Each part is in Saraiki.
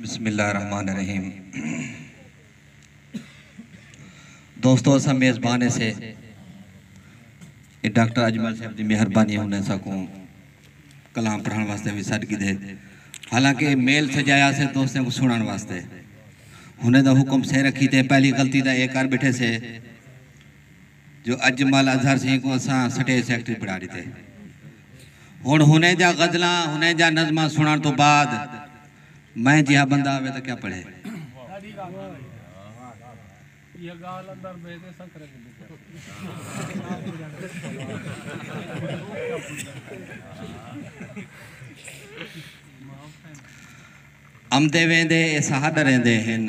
بسم اللہ الرحمن الرحیم دوستو اسا میزبان سے ڈاکٹر اجمل صاحب دی مہربانی ہونے سا کو کلام پڑھن واسطے بھی سٹ کی دے حالانکہ میل سجایا سے دوستوں کو سنن واسطے ہونے دا حکم سے رکھی تے پہلی غلطی دا ایک کر بیٹھے سے جو اجمل اظہر سیں کوں اساں سٹیج سیکرٹری بنڑا ڈتے۔ ہنڑ ہنیں جا غزلاں ہنیں جا نظماں سنڑن توں بعد میں جیہا بندہ آوے تاں کیا پڑھے۔ امدے ویندے اے ساہ ڈریندے ہن۔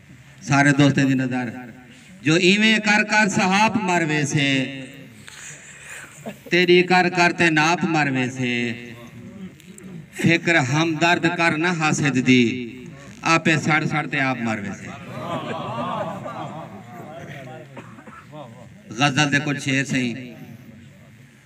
سارے دوستیں دی نظر جو ایویں کر کر سہاپ مر ویسے تیڈی کر کر تے ناپ مر ویسے فکر ہمدرد کر نہ حاسد دی آپے سڑ سڑ تے آپ مر ویسے غزل دے کچھ شعر سئیں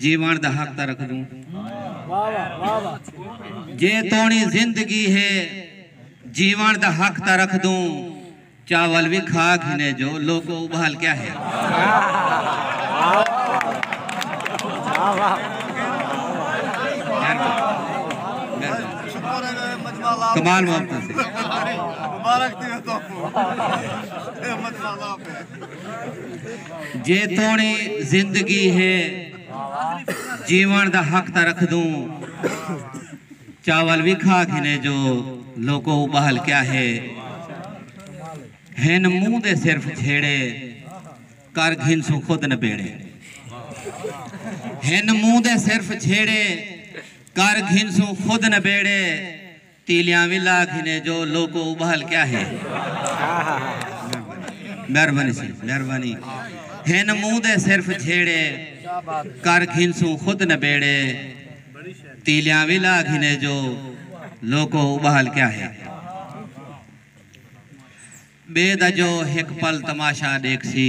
جیوݨ دا حق تاں رکھدوں جے توݨی زندگی ہے جیوݨ دا حق تاں رکھدوں چاول وی کھا گھنے جو لوکو ابال کیا ہے کمال محبت سے جے توڑیں زندگی ہے جیون دا حق تاں رکھدوں چاول وی کھا گھنے جو لوکو ابہل کیا ہے ہن منہ دے صرف جھیڑے کر گھنسوں خود نبیڑے ہن منہ دے صرف جھیڑے کر گھنسوں خود نبیڑے تیلیاں وی لا گھنے جو لوکو ابھال کیا ہے مہربانی سی مہربانی ہن منہ دے صرف جھیڑے کر گھنسوں خود نبیڑے تیلیاں وی لا گھنے جو لوکو ابھال کیا ہے بے دا جو ہک پل تماشا ڈیکھ سی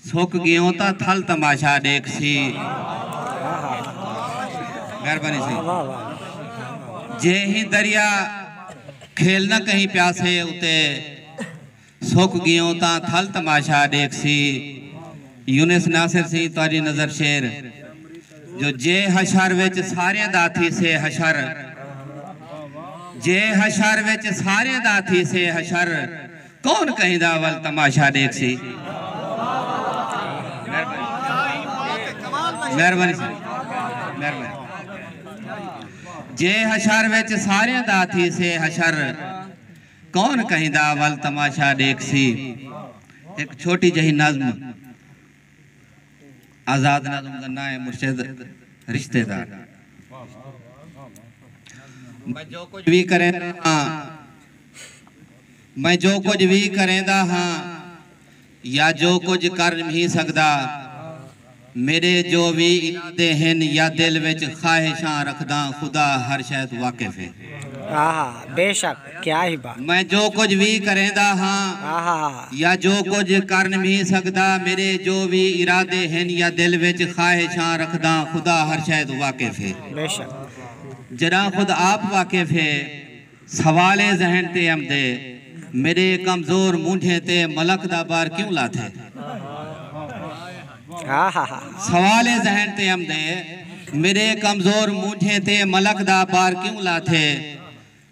سک گیوں تاں تھل تماشا ڈیکھ سی مہربانی سی جے ہی دریا کھیل نہ کہیں پیاسے اتے سک گیوں تاں تھل تماشا ڈیکھ سی یونس ناصر سی تہاڈی نظر شیر جو جے حشر وچ ساریں دا تھی سے حشر جے حشر وچ ساریں دا تھی سے حشر کون کہیں دا اول تماشا ڈیکھسی مہربانی جے حشر وچ سارے دا تھی سے حشر کون کہیں دا اول تماشا ڈیکھسی ایک چھوٹی جہی نظم آزاد نظم دا ناں ہے مرشد رشتے دار۔ میں جو کجھ وی کریندا ہاں میں جو کجھ وی کریندا ہاں یا جو کجھ کر نھیں سڳدا میݙے جو وی ارادے ہن یا دل وچ خواہشاں رکھداں خدا ہر شئے توں واقف ہے۔ میں جو کجھ وی کریندا ہاں یا جو کجھ کر نبھیں سگدا میڈے جو وی ارادے ہن یا دل وچ خواہشاں رکھداں خدا ہر شے توں واقف ہے جڈاں خود آپ واقف ہے سوال اے ذہن تے امدے میڈے کمزور مونجھیں تے ملک دا بار کیوں لاتھے سوال اے ذہن تے امدے میڈے کمزور مونجھیں تے ملک دا بار کیوں لاتھے